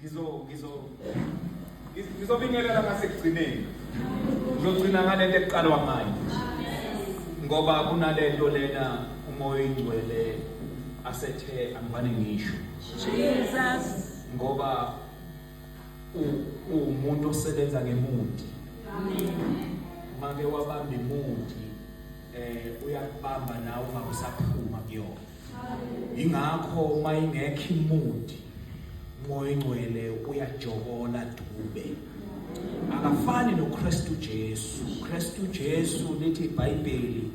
ngizo ngizo ngizobingelela ngasekugcineni ngizogcina ngalento ekuqalwa ngayo ngoba kunalento lena umoya oyingcwele asethe angibane ngisho Jesus ngoba umuntu osebenza ngemundi make wabamba imundi eh uyakubamba nawe ungakusaphuma kuyona ingakho uma ingekho imudi umoya ingcwele uyajokola dube akafani noKristu Jesu uKristu Jesu lithi iBhayibheli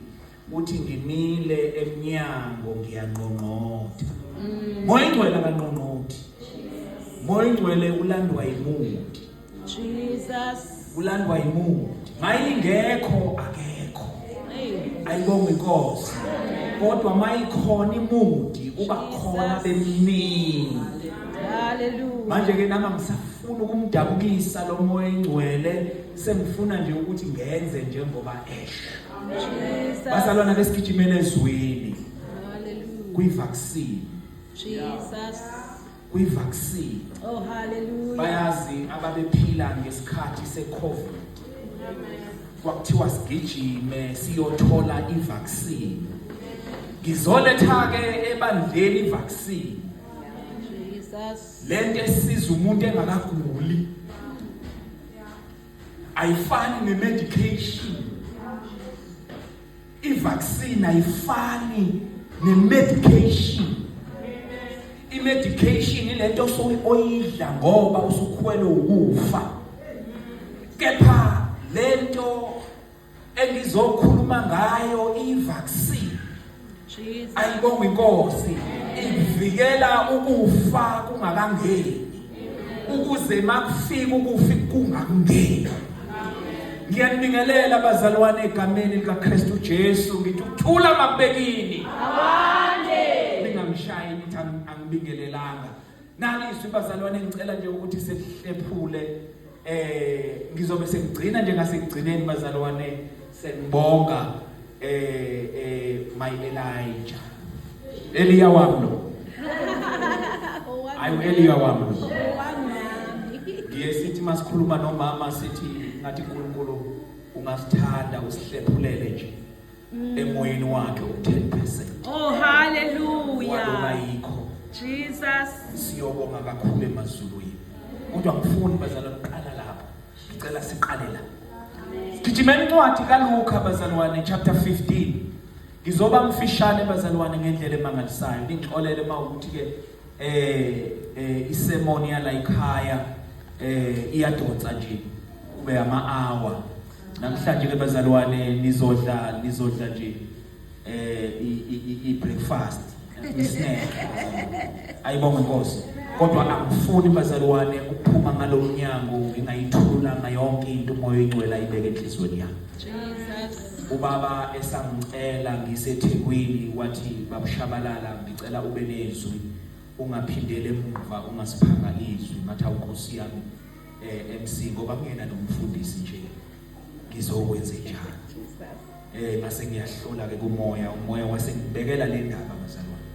uthi ngimile emnyango ngiyanqonqotha mm. moya ingcwele akanqonqothi moya ingcwele ulandwa yimuthi Jesus. Kulandwa yimude. Mayingekho akekho. Ayibonga inkosi. Kodwa mayikhona imudi uba khona bemini. Hallelujah. Manje ke nama ngisafuna ukumdabukisa lo moya engcwele sengifuna nje ukuthi ngenze njengoba esho. Jesus. Basalwana besigijimela ezweni. Hallelujah. Kwi vaccine. Jesus. kwi vaccine oh hallelujah bayazi ababephila ngesikhathi se covid kwakuthiwa sigijime siyothola i vaccine ngizoletha ke ebandleni i vaccine lento esiza umuntu engakaguli ayifani ne medication I-vaccine ayifani ne-medication. I-medication ilento osuke oyidla ngoba usukhwele ukufa. Kepha lento engizokhuluma ngayo i-vaccine. Ayibonga inkosi. Ivikela ukufa kungakangeni. ukuze makufika ukufi kungakungeni ngiyanibingelela abazalwane egameni likaKristu Jesu ngithi ukuthula makubekini abande ningamshayi nithi angibingelelanga nalizwi bazalwane ngicela nje ukuthi sehlephule eh ngizobe sengigcina nje ngasekugcineni bazalwane senibonga eh eh my Elijah Elia wami lo ayu Elia wami lo ngiye sithi masikhuluma nomama sithi ngathi uNkulunkulu ungasithanda usihlephulele nje mm. emoyeni wakhe u-10 percent oh haleluya ayikho jesus siyobonga kakhulu emazulwini kodwa ngifuni bazala kuqala lapho ngicela siqale la gijima incwadi kaluka bazalwane chapter 15 ngizoba mfishane bazalwane ngendlela emangalisayo ngixolele uma ukuthi-ke eh eh isemoni yala ikhaya eh iyadonsa nje kube ama hour namhlanje ke bazalwane nizodla nizodla nje eh i breakfast isnack ayibonga inkosi kodwa angifuni bazalwane ukuphuma ngalomnyango ngingayithulanga yonke into umoya oyingcwele ayibeke enhlizweni yami ubaba esangicela ngisethekwini wathi babushabalala ngicela ube nezwi ungaphindele emuva ungasiphanga izwi ngathi awukosi yami eh MC ngoba kungena nomfundisi nje ngizokwenze njani eh mase ngiyahlola ke kumoya umoya wasengibekela le ndaba bazalwane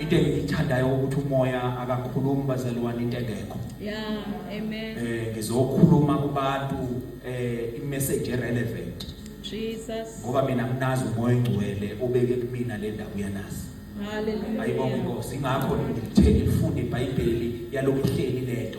into engiyithandayo ukuthi umoya akakhulumi bazalwane into engekho yeah amen eh ngizokhuluma kubantu eh imessage relevant Jesus ngoba mina nginazi umoya engcwele obeke kumina le ndawo uyanazi haleluya ayibonge inkosi ingakho ngithenge ifunde iBhayibheli yalokuhleli lento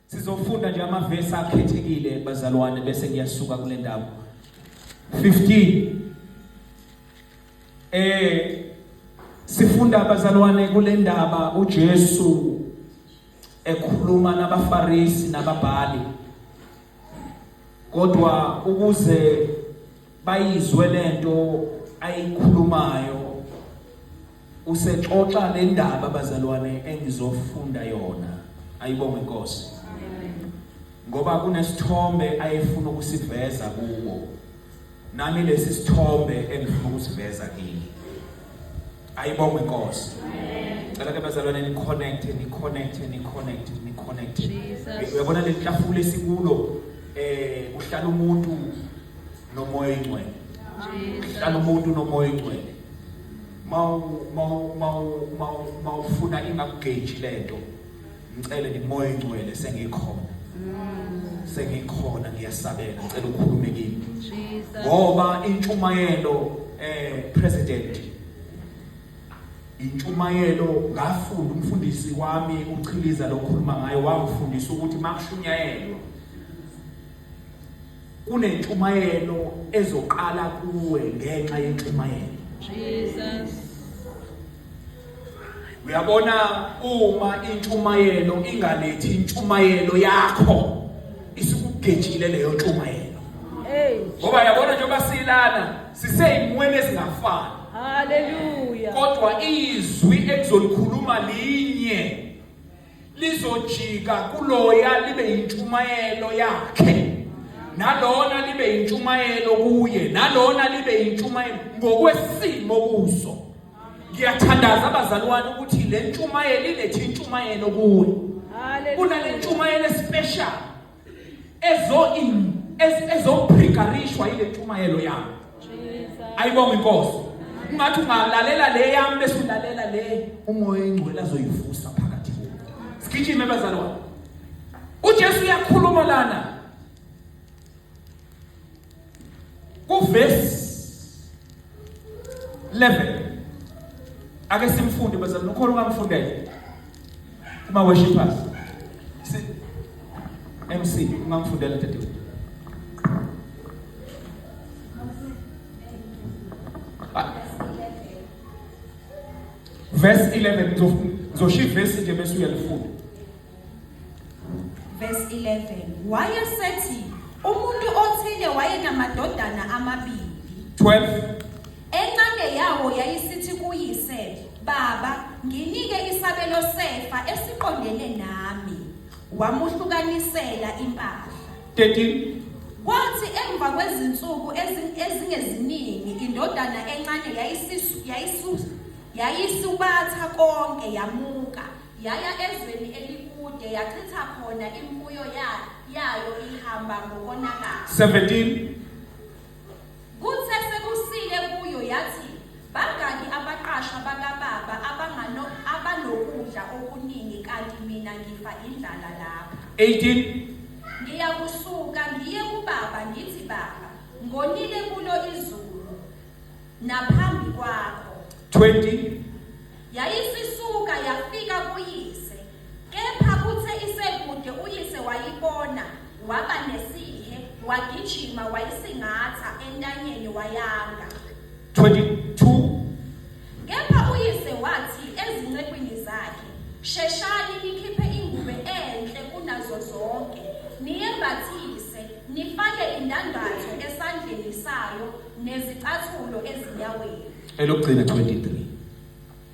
Sizofunda nje amavesi akhethekile bazalwane bese ngiyasuka kule ndawo. 15 Eh sifunda abazalwane kule ndaba uJesu ekhuluma nabaFarisi nababhali kodwa ukuze bayizwe lento ayikhulumayo usexoxa nendaba bazalwane engizofunda yona ayibonge inkosi ngoba kunesithombe ayefuna ukusiveza kuwo nami lesi sithombe engifuna ukusiveza kini ayibonge inkosi cela ke bazalwane ni connect ni connect ni connect ni connect uyabona le hlafula esikulo eh uhlala umuntu nomoya ingcwele hlala umuntu nomoya ingcwele mawufuna ingakugeji lento ngicele nimoya ingcwele sengikhona sengikhona ngiyasabela ngicela ukhulume kimi ngoba intshumayelo eh president intshumayelo ngafunda umfundisi wami uchiliza lokhuluma ngayo wangifundisa ukuthi makushunyayelwa kunentshumayelo ezoqala kuwe ngenxa yentshumayelo Jesus uyabona uma intshumayelo ingalethi intshumayelo yakho isikugejile leyo ntshumayelo ngoba yabona njengoba silana siseyimweni ezingafani haleluya kodwa izwi ekuzolikhuluma linye lizojika kuloya libe yintshumayelo yakhe nalona libe yintshumayelo kuye nalona libe yintshumayelo ngokwesimo kuso ngiyathandaza abazalwane ukuthi le ntshumayelo ilethe intshumayelo kuwe kunale ntshumayelo especial ezo in ezophrigarishwa ile ntshumayelo yami ayibonga inkosi ungathi ungalalela le yami bese ulalela le umoya ingcwele azoyivusa phakathi kuwe sigijime bazalwane uJesu uyakhuluma lana Kuvesi 11 ake simfunde bese ukhona ungamfundela uma worshipers si MC ungamfundela dadewethu verse 11 ngizoshiya ivesi nje bese uyalifunda Verse 11. Wayesethi umuntu othile wayenamadodana amabili. 12. Encane yawo yayisithi kuyise, "Baba, nginike isabelo sefa esiqondene nami." Wamuhlukanisela impahla. 13. Kwathi emva kwezinsuku ezi- ezingeziningi indodana encane yayisisu yayisu yayisubatha konke yamuka Yaya ezweni elikude yachitha khona imfuyo ya- yayo ihamba ngokonakala. 17 Kuthe sekusile kuyo yathi, Bangaki abaqashwa bakababa abangano abanokudla okuningi kanti mina ngifa indlala lapha. 18 Ngiyakusuka ngiye kubaba ngithi baba, ngonile kulo izulu. naphambi kwakho 20 yayisisuka yafika kuyise kepha kuthe isekude uyise wayibona waba nesihe wagijima wayisingatha entanyeni wayanga 22 kepha uyise wathi ezincekwini zakhe sheshani nikhiphe ingubo enhle kunazo zonke niyembathise nifake indandatho esandleni sayo nezicathulo ezinyaweni. Elokugcina 23.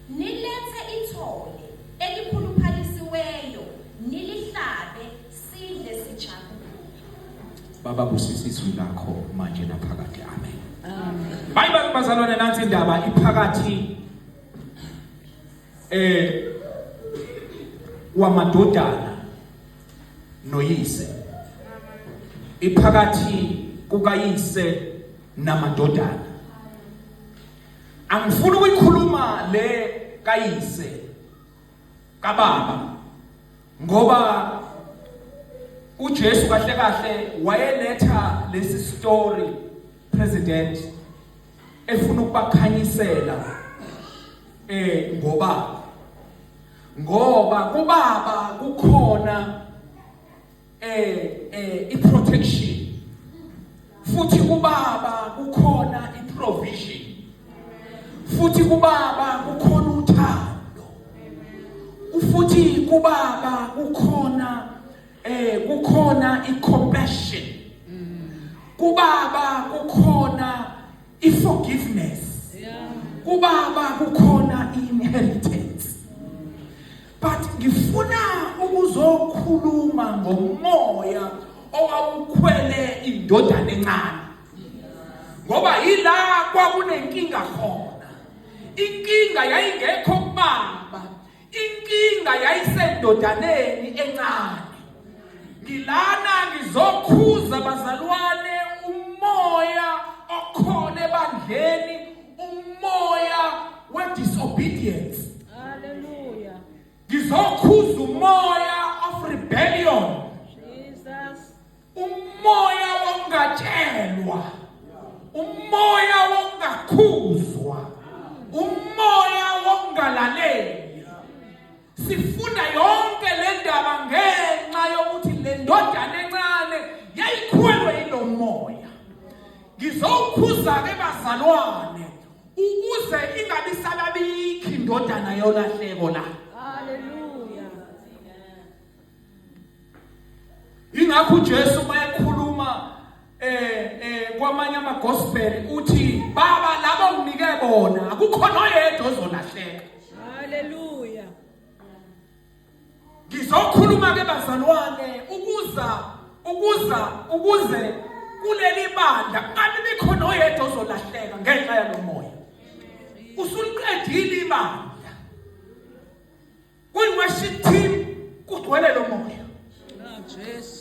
Nilethe ithole elikhuluphalisiweyo nilihlabe sidle sijabule. Baba busisa izwi lakho manje naphakade. Amen. Amen. Hayi bazalwane nansi indaba iphakathi eh wamadodana noyise iphakathi kukayise namadodana angifuni ukuyikhuluma le kayise kababa ngoba uJesu kahle kahle wayeletha lesi story president efuna ukubakhanyisela eh ngoba ngoba kubaba kukhona eh eh iprotection futhi kubaba kukhona iprovision futhi kubaba kukhona uthando futhi kubaba kukhona eh kukhona icompassion kubaba kukhona i forgiveness kubaba kukhona inheritance but ngifuna ukuzokhuluma ngomoya owawukhwele indodana encane ngoba yila kwakunenkinga khona inkinga yayingekho kubaba inkinga yayisendodaneni encane ngilana ngizokhuza bazalwane umoya okhona ebandleni umoya wedisobedience haleluya ngizokhuza umoya of rebellion umoya wongatshelwa umoya wongakhuzwa umoya wongalaleli sifunda yonke le ndaba ngenxa yokuthi le ndodana encane yayikhwelwe yilo moya ngizowukhuza-ke bazalwane ukuze ingabi salabikho indodana yolahleko la ingakho uJesu mayekhuluma eh eh kwamanye ama gospel uthi baba labo nginike bona akukho noyedwa ozolahleka haleluya ngizokhuluma ke bazalwane ukuza ukuza ukuze kuleli bandla kanti bikho noyedwa ozolahleka ngenxa yalomoya usuliqedile ibandla Kwi-worship team kugcwele lo moya.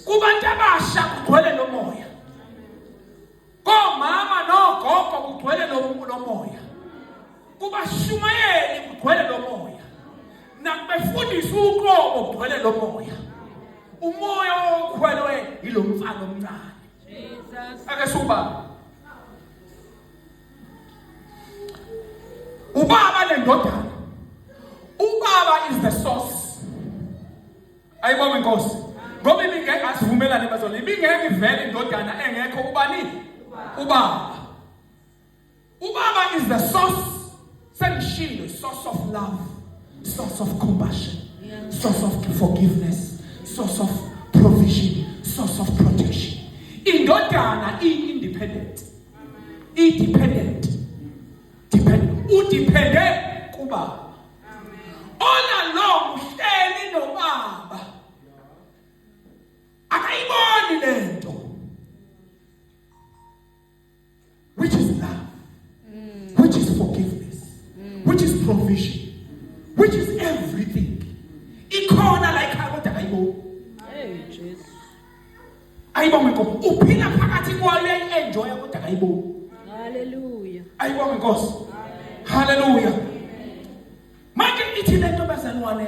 Kubantu abasha kugcwele lo moya. Komama nogogo kugcwele lo moya. Kubashumayeli kugcwele lo moya. Nakubefundisa uqobo kugcwele lo moya. Umoya okhwelwe yilomfana omncane. Jesus. Ake suba. ubaba nendodana ubaba is the source ayibonga inkosi ngoba ibingeke asivumelane bazona ibingeke ivele indodana engekho ubani ubaba ubaba is the source Sengishilo source of love, source of compassion, source of forgiveness, source of provision, source of protection. Indodana iyi independent. I dependent. Dependent. U dependent kuba. All along uhleli nobaba. Akayiboni lento. which is love mm. which is forgiveness mm. which is provision which is everything ikhona la ikhaya kodwa hayibo hey Jesus ayibonge ngoba uphila phakathi kwayo enjoy kodwa hayibo haleluya ayibonge inkosi haleluya manje ithi lento bazalwane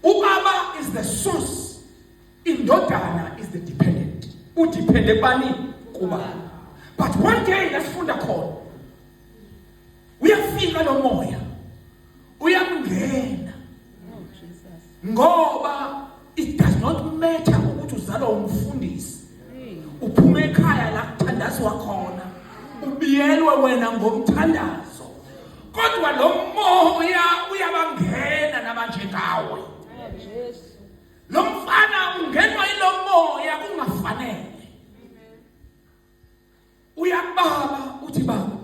uBaba is the source Indodana is the dependent. U depend ebani kuba. But one day lasifunda khona. Uyafika lo moya. Uyamngena. Ngoba it does not matter ukuthi uzalwa umfundisi. Uphuma ekhaya la kuthandazwa khona. Ubiyelwe wena ngomthandazo. Kodwa lo moya uyabangena nabanjengawe. Lo mfana ungenwa ilomoya kungafanele. Uyababa uthi baba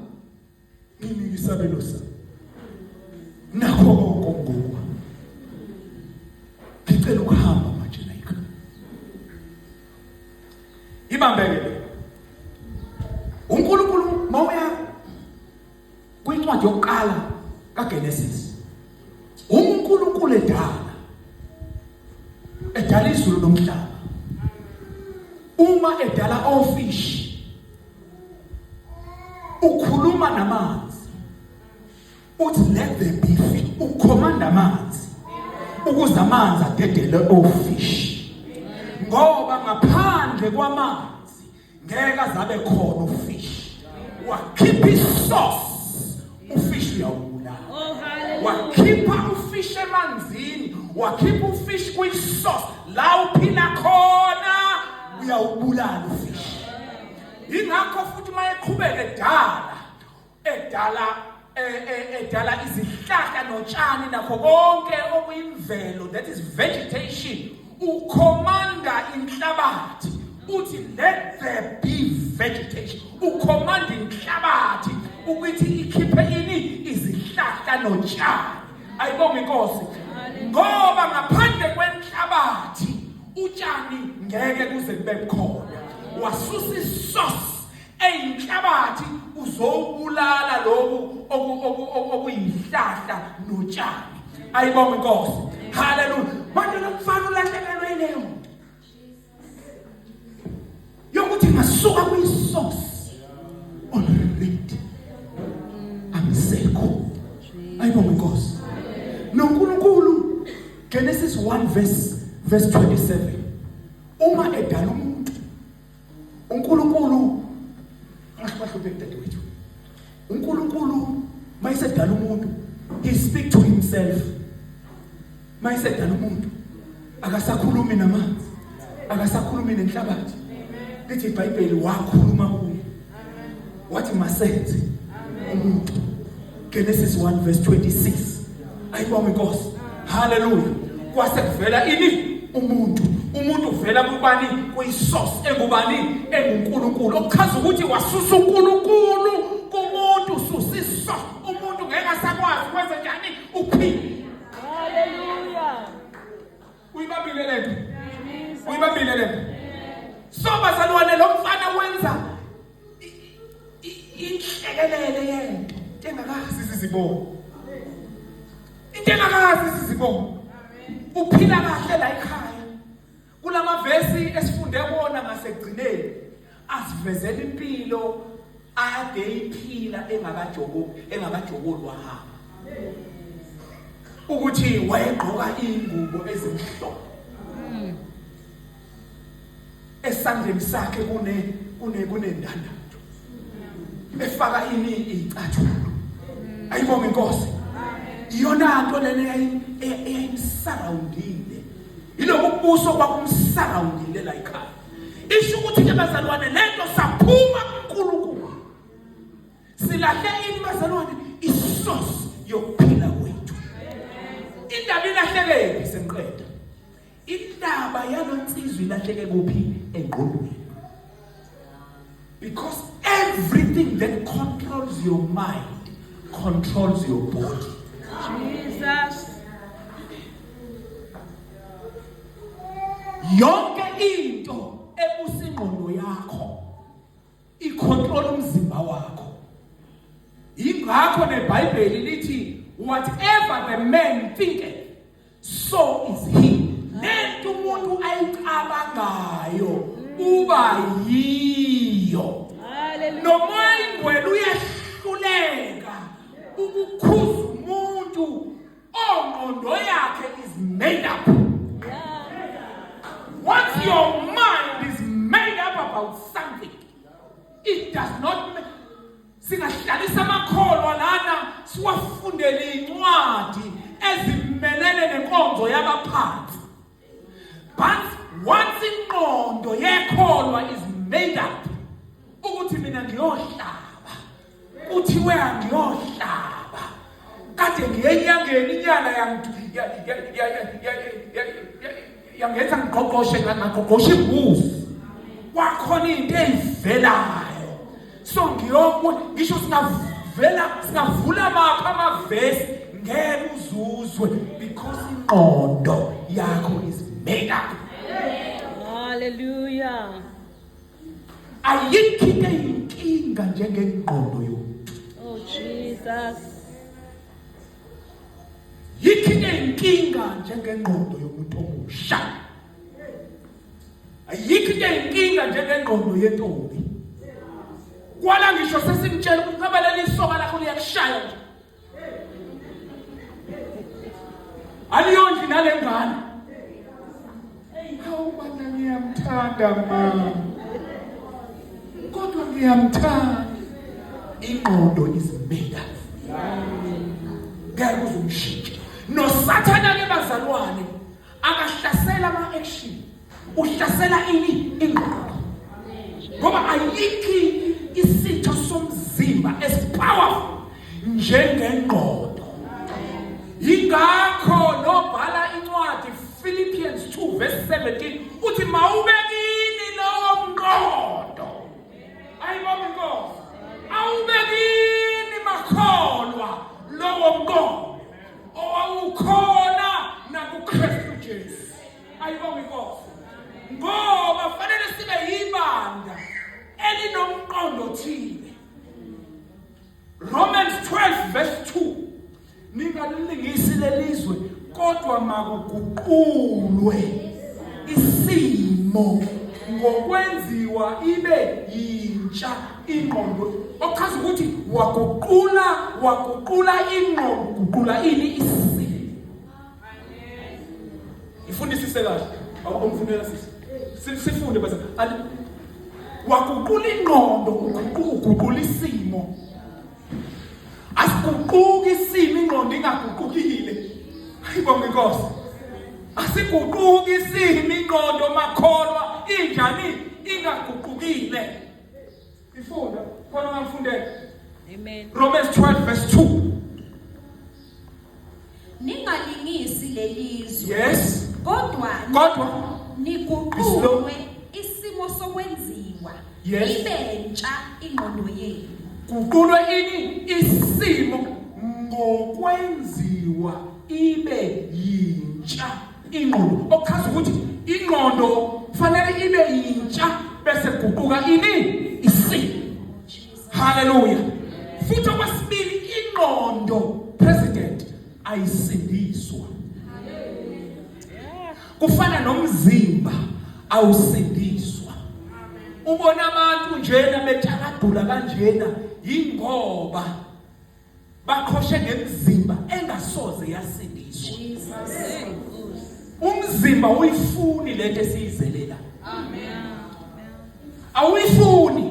nginike isabelo sami. Nakho konke ngoku. Ngicela ukuhamba manje like. Ibambeke. kwincwadi yokuqala kaGenesis uNkulunkulu edala edala izulu nomhlaba uma edala ofish ukhuluma namanzi uthi let there be fish ukhomanda amanzi ukuze amanzi adedele ofish ngoba ngaphandle kwamanzi ngeke azabe khona ufish wakhipha isource ufish uyawubulala oh, wakhipha ufish emanzini wakhipha ufish kwisource la uphila khona uyawubulala ufish ingakho futhi mayeqhubeke dala edala eh, eh, edala izihlahla notshani nakho konke okuyimvelo that is vegetation ukhomanda inhlabathi uthi let there be vegetation ukhomanda inhlabathi ukuthi ikhiphe ini izihlahla notshani ayibonga inkosi ngoba ngaphandle kwenhlabathi utshani ngeke kuze kube khona wasusa isource eyinhlabathi uzowubulala lokhu okuyihlahla notshani ayibonga inkosi haleluya manje lomfana ulahlekelwe ileyo muntu yokuthi ngasuka kuyisource already amsekho ayibonga inkosi noNkulunkulu Genesis 1 verse verse 27 uma edala umuntu uNkulunkulu angahluphi dadewethu uNkulunkulu mayisedala umuntu he speak to himself mayisedala umuntu akasakhulumi namanzi akasakhulumi nenhlabathi lithi iBhayibheli wakhuluma kuye wathi masenze umuntu Genesis 1 verse 26 ayibonge inkosi haleluya kwase kuvela ini umuntu umuntu uvela kubani kuyisource engubani enguNkulunkulu okuchaza ukuthi wasusa uNkulunkulu kumuntu ususa iso umuntu ngeke asakwazi kwenze njani uphila haleluya Uyibambile le nto. Uyibambile le nto. So bazalwane lo mfana wenza inhlekelele yento engakazi sizibona. Into engakazi sizibona. Uphila kahle la ekhaya. Kulamavesi esifunde kuona ngasekugcineni. asivezela impilo ade iphila engakajobo engakajoboli wahamba ukuthi wayegqoka ingubo ezimhlophe hmm. esandleni sakhe kune kune kunendanda efaka ini icathulo hmm. ayibonga inkosi iyona nto lena eyayimsurroundile yilokubuso kwakumsurroundile la ikhaya isho ukuthi ke bazalwane lento saphuma kuNkulunkulu silahle ini bazalwane isource yokuphila kwethu indaba ilahlekephi senqeda indaba yalonsizwe ilahleke kuphi engqondweni Because everything that controls your mind controls your body. Jesus. Yonke into ebusingqondo yakho icontrol umzimba wakho. Ingakho neBhayibheli lithi whatever the man thinketh so is he lento umuntu ayicabangayo uba yiyo nomoya ingwele uyahluleka ukukhuza umuntu ongqondo yakhe is made up once your mind is made up about something it does not Singahlalisa amakholwa lana siwafundele incwadi ezimelele nenkonzo yabaphansi. But once inqondo yekholwa is made up ukuthi mina ngiyohlaba kuthiwe angiyohlaba kade ngiyenyangeni inyanga yangidu yangenza ngigqogqoshe ngagqogqosha imbuzi kwakhona into eyivelayo so ngiyokwe ngisho singavela singavula amaphi amavesi ngeke uzuzwe because ingqondo yakho is made up haleluya ayikho into eyinkinga njengengqondo yomuntu oh jesus yithi inkinga njengengqondo yomuntu omusha ayikho into eyinkinga njengengqondo yentombi kwala ngisho sesimtshela ukuthi ngaba leli soka lakho liyakushaya nje aliyondli nale ngane Hawu bana ngiyamthanda mama. Kodwa ngiyamthanda. Ingqondo is made up. Ngeke uzumshintshe. Nosathana ke bazalwane akahlasela ama action. Uhlasela ini ingqondo. Ngoba ayikho isitho somzimba esipowerful njengengqondo yingakho nobhala incwadi Philippians 2 verse 17 uthi mawubekini lowo mqondo ayibonga inkosi awubekini makholwa lowo mqondo owawukhona nakuKristu Jesu ayibonga inkosi ngoba fanele sibe yibanda elinomqondo thile Romans 12 verse 2 ningalilingisi lelizwe kodwa makuguqulwe isimo ngokwenziwa ibe yintsha ingqondo okuchaza ukuthi waguqula waguqula ingqondo guqula ini isimo Ngifundisise kahle. Awukho mfundela sisi. Sifunde bese waguqula ingqondo uguqula isimo asiguquki isimo ingqondo ingaguqukile ayibonga inkosi asiguquki isimo ingqondo makholwa injani ingaguqukile Ifunda khona ngafundela. Amen. Romans 12 verse 2. Ningalingisi lelizwe. Yes. Kodwa kodwa niguqulwe isimo sokwenziwa. Yes. Ibe ntsha ingqondo yenu. Guqulwe ini isimo ngokwenziwa ibe yintsha. ingqondo okuchaza ukuthi ingqondo fanele ibe yintsha bese guquka ini isi haleluya futhi okwesibili ingqondo president ayisindiswa kufana nomzimba awusindiswa ubona abantu njena bethakadula kanjena yingoba baqhoshe ngemizimba engasoze yasindiswa umzimba uyifuni lento esiyizelela amen awuyifuni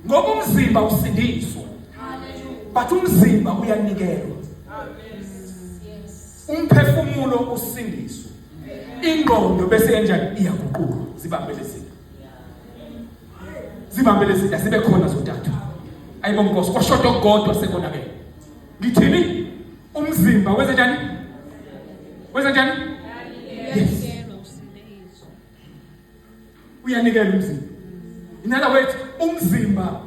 ngoba umzimba usindiswa but umzimba uyanikelwa umphefumulo usindiswa ingqondo bese yenjani iyaguquka zibambele siphi zibambe lezi asibe khona zodathu ayibo nkosi kwashoda okukodwa sekonakele ngithini umzimba wenze njani wenze njani yes uyanikela umzimba inala wethu umzimba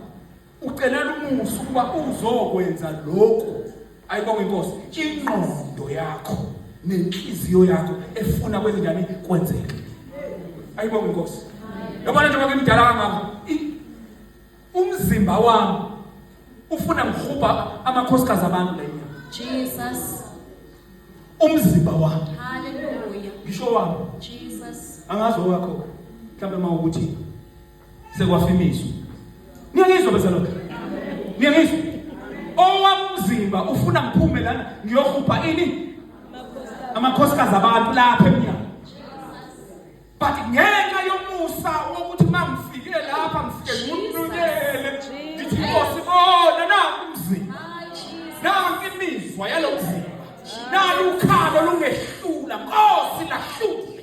ucelela umusa ukuba uzokwenza lokhu ayibonge inkosi ingqondo yakho nenhliziyo yakho efuna kwenzekani kwenzeke ayibonge inkosi yabona njengoba ngimdala kangaka umzimba wami ufuna ngihuba amakhosikazi abantu la inyama Jesus umzimba wami haleluya ngisho wami Jesus angazi owakho mhlawumbe uma ukuthi sekwafimiswa niyangizwa bezalwane niyangizwa owamzimba ufuna ngiphume lana ngiyohupha ini amakhosikazi abantu lapha emnyango but ngenxa yomusa wokuthi uma ngifike lapha ngifike ngiwunukele ngithi nkosi bona naku umzimba nanki imizwa yalo mzimba nalu ukhalo lungehlula nkosi lahlula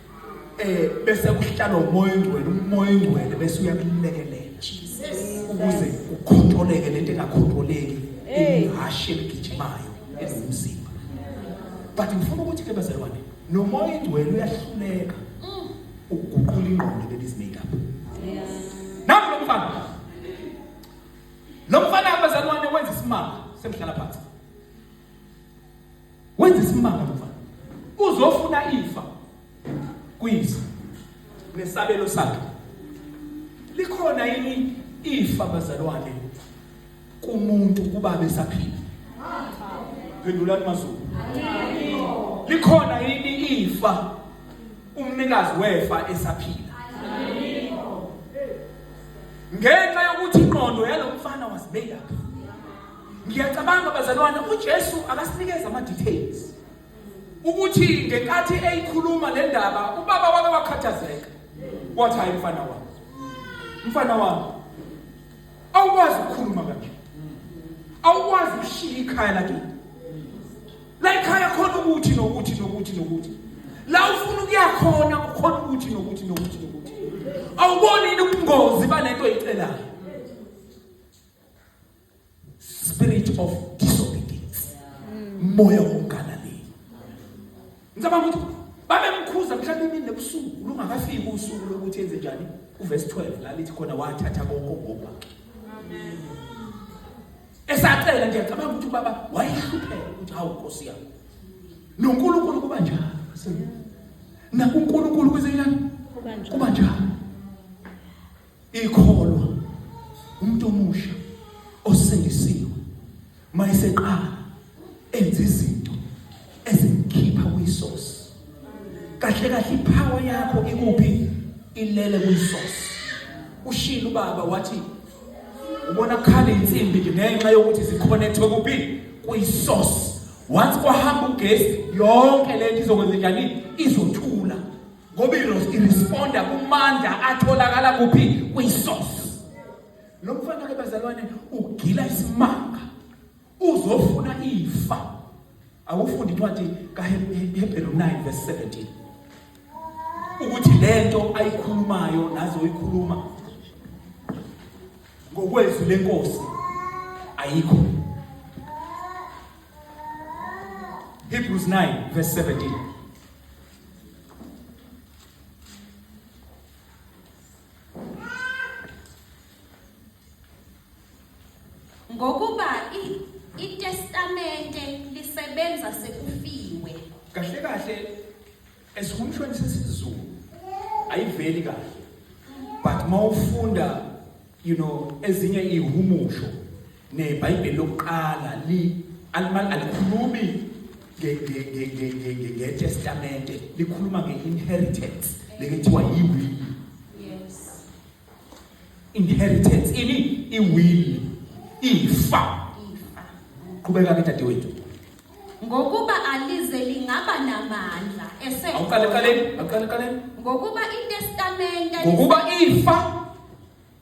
eh bese kuhlala umoya ongcwele umoya ongcwele bese uyakulekelela ukuze ukhontroleke lento engakhontroleki ihashe eligijimayo elomzimba but ngifuna ukuthi ke bazalwane nomoya ongcwele uyahluleka mm. ukuguqula ingqondo ladies make up nami lo mfana lo mfana abazalwane wenza isimanga semhlala phansi Wenza isimanga mfana. Uzofuna ifa kuyise nesabelo sakhe. Likhona yini ifa bazalwane kumuntu kuba besaphila? Phendulani mazulu. Likhona yini ifa umnikazi wefa esaphila? ngenxa yokuthi ingqondo yalomfana was made up ngiyacabanga bazalwane uJesu akasinikeza ama details ukuthi ngenkathi eyikhuluma le ndaba ubaba wake wakhathazeka wathi hayi mfana wami mfana wami awukwazi ukukhuluma kanje awukwazi ukushiya ikhaya lakini la ikhaya khona ukuthi nokuthi nokuthi nokuthi la ufuna ukuya khona ukhona ukuthi nokuthi nokuthi nokuthi awuboni ubungozi balento oyicelayo spirit of disobedience moya wongalaleli ngicabanga ukuthi babemkhuza mhlawumbe imini nebusuku lungakafiki usuku lokuthi enze njani uverse 12 la lithi khona wathatha konke ngoba esacela nje ngicabanga ukuthi ubaba wayehlupheka ukuthi hawu nkosi yami noNkulunkulu kuba njalo nakuNkulunkulu kwezenyana kuba njalo ikholwa umuntu omusha osindisiwe mayiseqala enza izinto ezimkhipha kwisosi kahle kahle ipower yakho ikuphi ilele kwisosi ushilo ubaba wathi ubona khala insimbi nje ngenxa yokuthi ziconnectwe kuphi kwisosi once kwahamba ugesi yonke lento izokwenza njani izothula ngoba iresponda kumandla atholakala kuphi kwisource lo mfana ke bazalwane ugila isimanga uzofuna ifa awufundi incwadi kaHebheru 9 verse 17 ukuthi lento ayikhulumayo nazo uyikhuluma ngokwezwi lenkosi ayikho Hebrews 9 verse 17 ngokuba itestamente lisebenza sekufiwe kahle kahle esikhumshweni sesizulu ayiveli kahle but mawufunda you know ezinye ihumusho neBhayibheli lokuqala li alikhulumi ngetestamente likhuluma nge-inheritance lekuthiwa yiwili inheritance ini iwili ifa qhubeka ke dadewethu ngokuba alize lingaba namandla ese awuqale qaleni awuqale qaleni ngokuba itestamente ngokuba ifa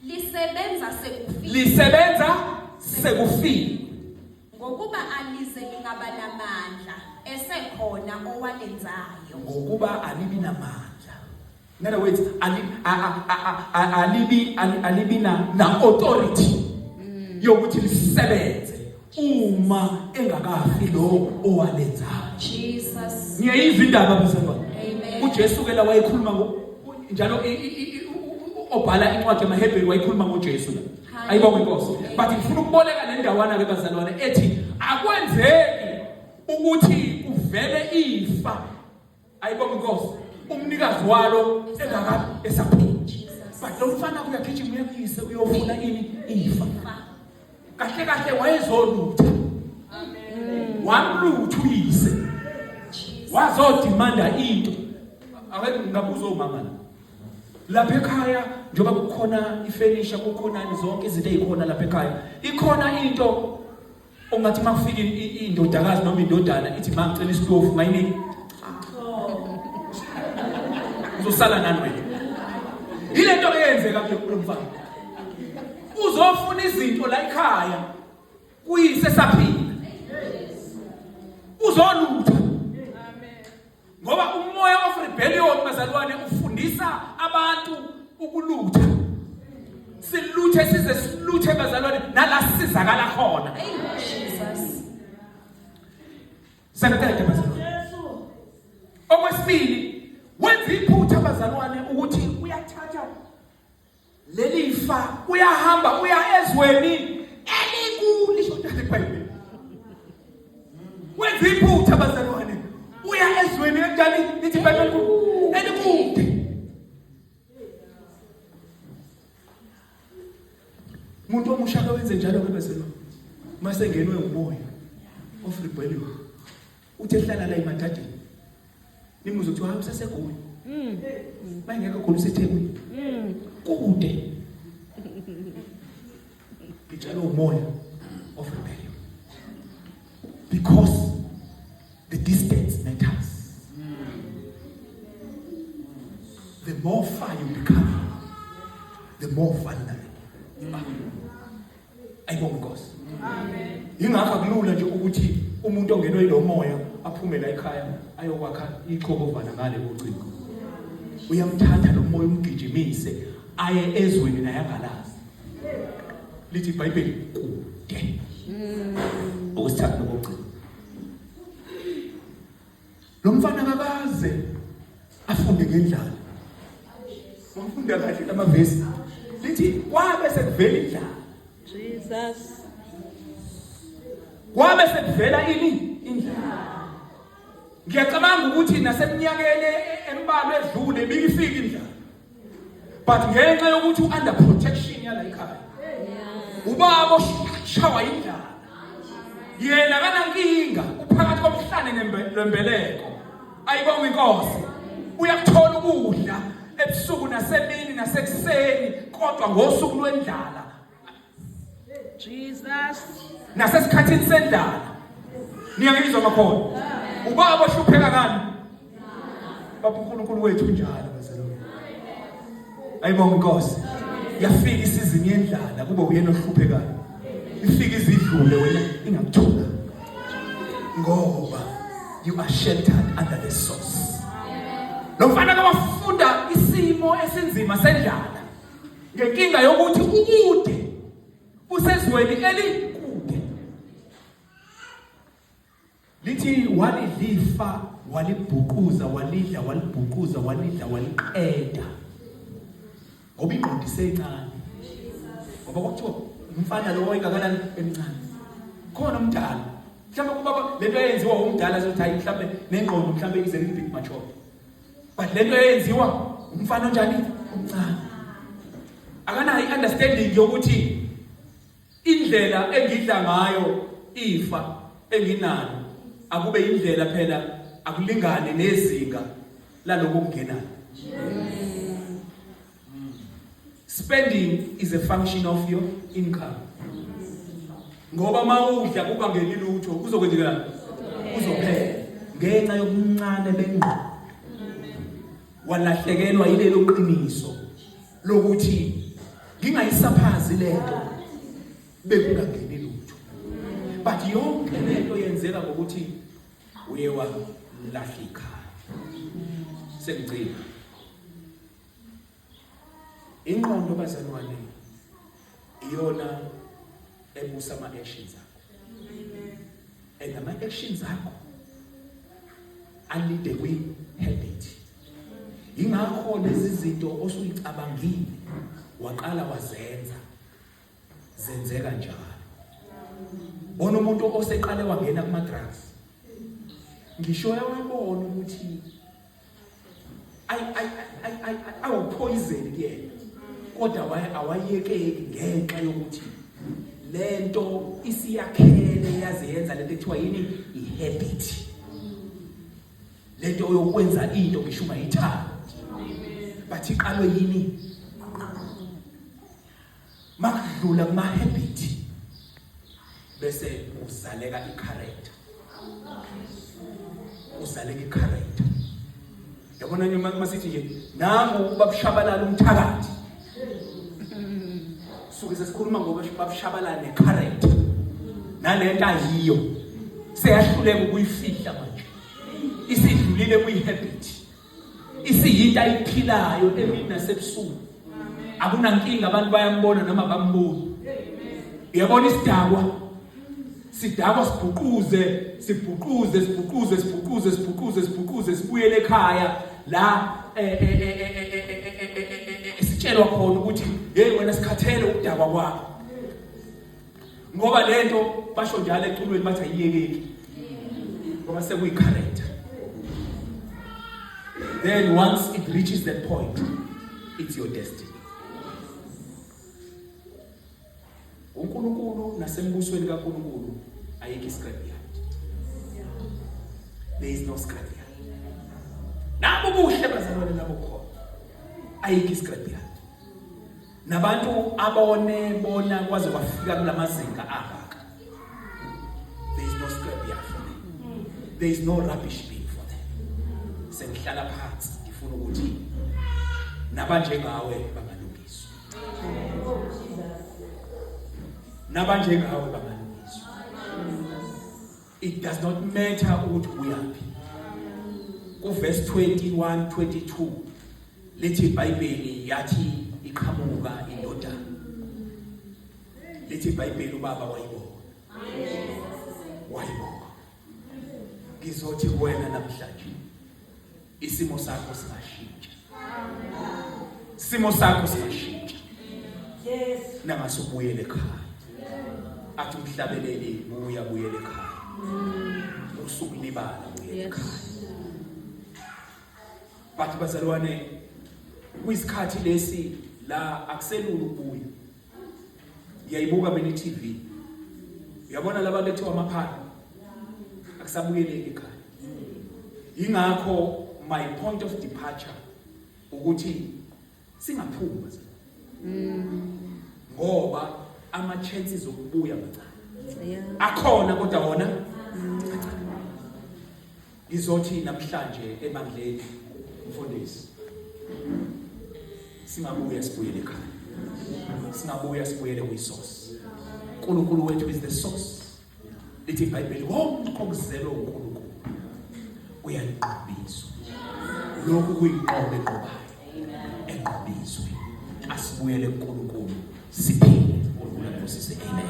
lisebenza sekufile lisebenza sekufile ngokuba alize lingaba namandla esekhona owalenzayo ngokuba alibi namandla In other words, ali, a, a, a, a, alibi, ali, alibi na, na authority mm. yokuthi lisebenze uma engakafi lo owalenzayo. Jesus. Ngiyayizwa indaba mzimba. Amen. UJesu ke la wayekhuluma ngo njalo obhala incwadi yamaHebheru wayekhuluma ngoJesu la. Ayibonge inkosi. But ngifuna ukuboleka le ndawana ke bazalwane ethi akwenzeki ukuthi kuvele ifa Ayibonga inkosi umnikazi walo engakabi esaphila. But lo mfana kuyagijima uyakuyise uyofuna ini ifa. Kahle kahle wayezolutha. Amen. Wamlutha uyise. Wazodimanda into. Ake ngabuza umama la. lapha ekhaya njengoba kukhona ifenisha kukhonani zonke izinto ezikhona lapha ekhaya ikhona into Ungathi makufika indodakazi noma indodana ithi ma ngicela isitofu mayinini. Uzosala nani wena? Yile nto eyenzeka kulo mfana. Uzofuna izinto la ekhaya kuyise saphila. Uzolutha. ngoba umoya of rebellion bazalwane ufundisa abantu ukulutha siluthe size siluthe bazalwane nala sizakala khona Jesus sekuqede bazalwane okwesibili wenza iphutha bazalwane ukuthi uyathatha leli fa uyahamba uya ezweni elikhulu lisho njalo iBhayibheli wenza iphutha abazalwane uya ezweni enjani lithi iBhayibheli elikude umuntu omusha kawenze njalo ke bezalwane masengenwe umoya of rebellion Uthe hlala la emadadeni. Nimuzo kuthiwa hamba sasegoli. Mm. Bayingekho khona usethekwini. Mm. Kude. Ngitshela umoya of rebellion. Because the distance matters. The more far you become, the more vulnerable you are. ayibonge inkosi amen ingakho akulula nje ukuthi umuntu ongenwe yilo moya aphume la ekhaya ayokwakha ichobovana ngale kocingo uyamthatha lo moya umgijimise aye ezweni naye angalazi lithi ibhayibheli kude okwesithathu nokugcina lo mfana akaze afunde ngendlala umfunda kahle amavesi lithi kwabe sekuvela indlala Jesus kwabe sekuvela ini indlala ngiyacabanga ukuthi naseminyakeni embalwa edlule bikifika indlala but ngenxa yokuthi u-under protection yala ikhaya ubaba oshawa indlala yena kanankinga uphakathi komhlane lwembeleko ayibonga inkosi uyakuthola ukudla ebusuku nasemini nasekuseni kodwa ngosuku lwendlala Jesus. Nasesikhathini sendala. Niyangizwa makhona. Ubaba ohlupheka kani? Baba uNkulunkulu wethu njalo bazalwane. Ayibonga inkosi. Yafika isizini yendlala kube uyena ohluphekayo. Ifika izidlule wena ingakuthola. Ngoba you are sheltered under the source. Lo mfana kawafunda isimo esinzima sendlala. ngenkinga yokuthi ukude usezweni elikude lithi walidlifa walibhuquza walidla walibhuquza walidla waliqeda ngoba ingqondo isencane ngoba kwakuthiwa umfana lowo engakanani emncane khona umdala mhlawumbe kubaba lento eyenziwa umdala sothi hayi mhlawumbe nengqondo mhlawumbe ize limbig mature but lento eyenziwa umfana onjani omncane akanayo i-understanding yokuthi indlela engidla ngayo ifa enginalo akube indlela phela akulingane nezinga laloko kungenayo spending is a function of your income ngoba mawudla kungangeni lutho kuzokwenzekalani kuzophela ngenxa yokuncane bengqondo walahlekelwa yilelo qiniso lokuthi ngingayisaphazi lento bekungangeni lutho but yonke lento yenzeka ngokuthi uye walahla ikhaya sengigcina Inqondo bazalwane iyona ebusa ama actions akho. Amen. And ama actions akho alide kwi habit. Ingakho lezi zinto osuyicabangile waqala wazenza zenzeka njalo. Bona umuntu oseqale wangena kuma drugs. Ngisho yawabona ukuthi awuphoyizeni kuyena kodwa awayekeki ngenxa yokuthi le nto isiyakhele yaze yenza lento ekuthiwa yini i-habit le nto oyokwenza into ngisho ungayithandi but iqalwe yini makudlula kuma habit bese uzaleka i character uzaleka i character yabona nje masithi nje nangu babushabalala umthakathi suke sesikhuluma ngoba babushabalala ne character nalento ayiyo seyahluleka ukuyifihla manje isidlulile kuyi habit isiyinto ayiphilayo emini nasebusuku akunankinga abantu bayambona noma bamboni uyabona isidakwa sidakwa sibhuquze sibhuquze sibhuquze sibhuquze sibhuquze sibhuquze sibuyele ekhaya la sitshelwa khona ukuthi hey wena sikhathele ukudakwa kwakho ngoba lento basho njalo eculweni bathi ayiyekeki ngoba sekuyicharacter then once it reaches that point it's your destiny uNkulunkulu nasembusweni kaNkulunkulu ayikho iscrapyard there is no scrapyard nabo buhle bazalwane nabo khona ayikho iscrapyard nabantu abone bona kwaze kwafika kulamazinga angaka there is no scrap yard for them there is no rubbish bin for them sengihlala phansi ngifuna ukuthi nabanjengawe bangalungiswa nabanjengawe bangalungiswa it does not matter ukuthi uyaphi kuverse 21 22 lithi iBhayibheli yathi iqhamuka indodana lithi iBhayibheli ubaba wayibona wayibona ngizothi kuwena namhlanje isimo sakho singashintsha isimo sakho singashintsha yes nangase ubuyele ekhaya athi umhlabeleli buya buyele ekhaya usukulibala buyele ekhaya bathi bazalwane kuyisikhathi lesi la akuselula ukubuya Ngiyayibuka mina iTV. Uyabona laba bethiwa amaphara. Akusabuyeleki ekhaya. Ingakho my point of departure ukuthi singaphuma ngoba ama chances okubuya mancane. Akhona kodwa wona Ngizothi namhlanje ebandleni mfundisi singabuya sibuyele ekhaya. Singabuya sibuyele kwisource. uNkulunkulu wethu is the source. Lithi iBhayibheli konke okuzelwe uNkulunkulu uyaliqhubiswa. Lokhu kuyiqobe qobayo. Enqubizwe. Asibuyele kuNkulunkulu siphile. uNkulunkulu akusise amen.